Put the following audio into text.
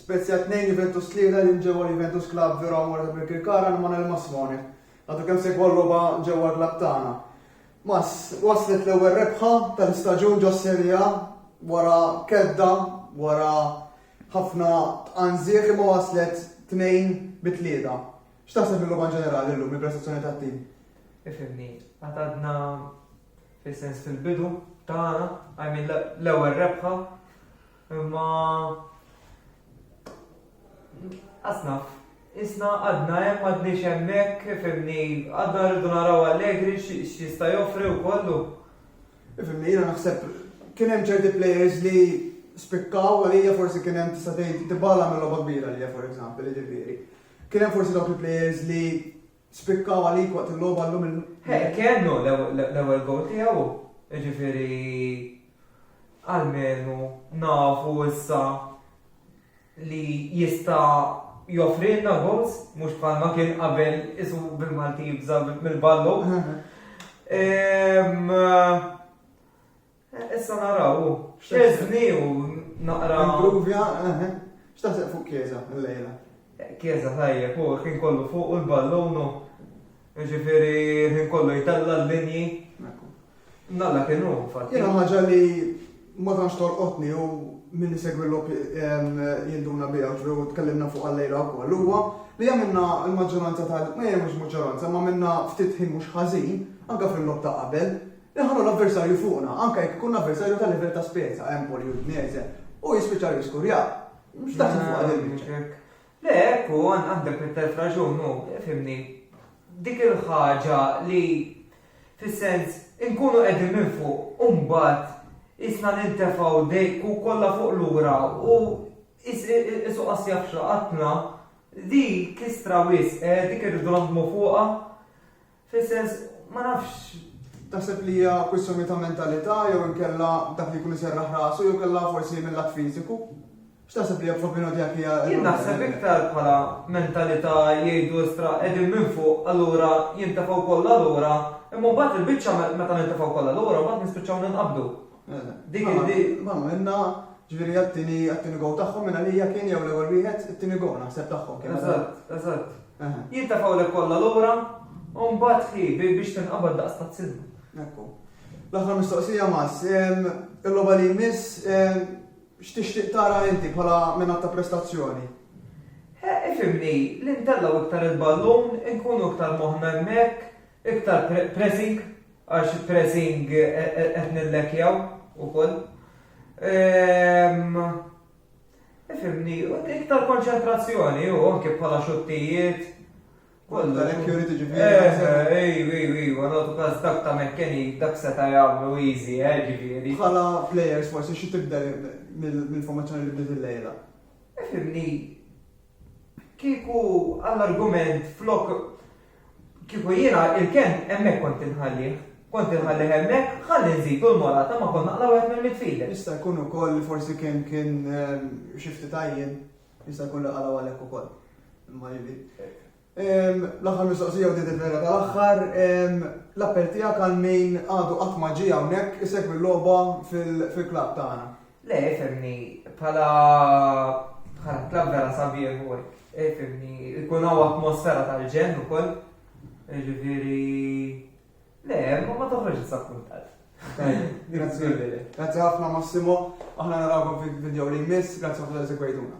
Spezia 2, Juventus 3, L-in ġewwa l-Juventus Club Vero Amore ta' Birkirkara għand Manuel Massone. Għadu kemm segwa l-logħba ġewwa l-klabb tagħna. Mas, waslet l-ewwel rebħa tal-istaġun ġo Serie A wara kedda, wara ħafna tqanżieħ imma waslet tnejn bi tlieta. X'taħseb mill-logħba ġenerali llum il-prestazzjoni tat-tim? Ifhimni, għad għadna Fis-sens fil-bidu tagħna, I mean l-ewwel rebħa, imma asnaf, isna għadna hemm għadniex hemmhekk fimni għadna rridu naraw Allegri x'jista' joffri u kollu. Fimni jiena naħseb kien hemm ċerti players li spikkaw għalija forsi kien hemm tista' tgħid tibala mill-logħba kbira għalija for example, jiġifieri. Kien hemm forsi dawk il-players li Spikkaw għalik waqt il-logħba llum il. Hey, kellu l-ewwel gowl tiegħu, jiġifieri għalmenu nafu issa li jista' joffrilna goals, mhux bħalma kien qabel isu bil-Malti jibża mill-ballu. Ehm, Issa naraw, xezni u naqra. Impruvja, eħe. X'taħseb fuq Kieza l-lejla? Kieza tajjeb, u ħin kollu fuq u l-ballonu. Ġifiri, ħin kollu jtella l-linji. Nalla kienu, fatti. Jena ħagġa li ma tantx torqotni u minni segwi l-lop jinduna bija u tkellimna fuq għallejla u koll. Huwa li għamilna l-maġġoranza tal ma jemux maġġoranza, ma minna ftit ħin mhux ħażin, anka fil-lop ta' qabel, Inħallu l-avversarju fuqna, anke jekk ikun avversarju ta' livell ta' Spezia, Empoli, Udinese, u jispiċċa jrid skurja. Mhux daqshekk fuqha din il-biċċa. Le, hekk hu, għandek it-telf raġun hu, fhimni. Dik il-ħaġa li fis-sens inkunu qegħdin minn fuq u mbagħad qisna nintefgħu dejk u kollha fuq lura u qisu qas jaf x'laqatna, dik kistra wisq, dik irridu naħdmu fuqha. Fis-sens, ma nafx, taħseb li hija kwistjoni ta' mentalità jew inkella dak li jkun iserraħ rasu jew kellha forsi mil-lat fiżiku? X'taħseb li hija propino dik hija? Jien naħseb iktar bħala mentalità jgħidu istra qegħdin minn fuq allura jintefgħu kollha lura imma mbagħad il-biċċa meta nintefgħu kollha lura mbagħad nispiċċaw ninqabdu. Dik Mela, il-di. Mela, minna, ġviri għattini, għattini gow taħħom minna li kien jew l-ewel wieħed, it-tini gow naħseb taħħom kien. Eżatt, eżatt. Eħe, Jintafaw l kollha lura, u mbagħad hi bi- biex tinqabad daqs ta' tsilma. Ekku. L-aħħar mistoqsija mas, em, il-logħba li jmiss em, x'tixtieq tara inti bħala minn ta' prestazzjoni? He, ifimni, li ntellaw iktar il-ballun, inkunu iktar moħna hemmhekk, iktar pre- pressing, Għax pressing qed nillekjaw ukoll. Ifhimni, u dik tal-konċentrazzjoni u anke bħala xuttijiet. Kollha hekk jurid jiġifieri. Ejw, ejw, ejw, nagħtu każ dak ta' McKennie dak seta' jagħmlu easy, eh, ġifieri. Bħala players forsi xi tibdel mill-informazzjoni li bdiet illejla? Ifhimni. Kieku għall-argument flok kieku jiena il-ken hemmhekk kont inħallih. Kont inħallih hemmhekk ħalli nżidu l-morata ma kont naqla' wieħed mill-midfielder. Jista' jkun ukoll li forsi kien kien xi ftit għajjien, jista' jkun li qalgħu għalhekk ukoll. Imma L-aħħar mistoqsija u din il-vera tal-aħħar, l-appell tiegħek għal min għadu qatt ma ġie hawnhekk isegwi l-logħba fil-klabb tagħna? Le, fehmni, bħala bħala klabb vera sabiħ u hekk. Fehmni, ikun hawn atmosfera tal-ġenn ukoll. Ġifieri, le, ma toħroġ disappuntat. Grazzi. Grazzi ħafna Massimo, aħna narawkom fil-video li jmiss, grazzi ħafna li segwejtuna.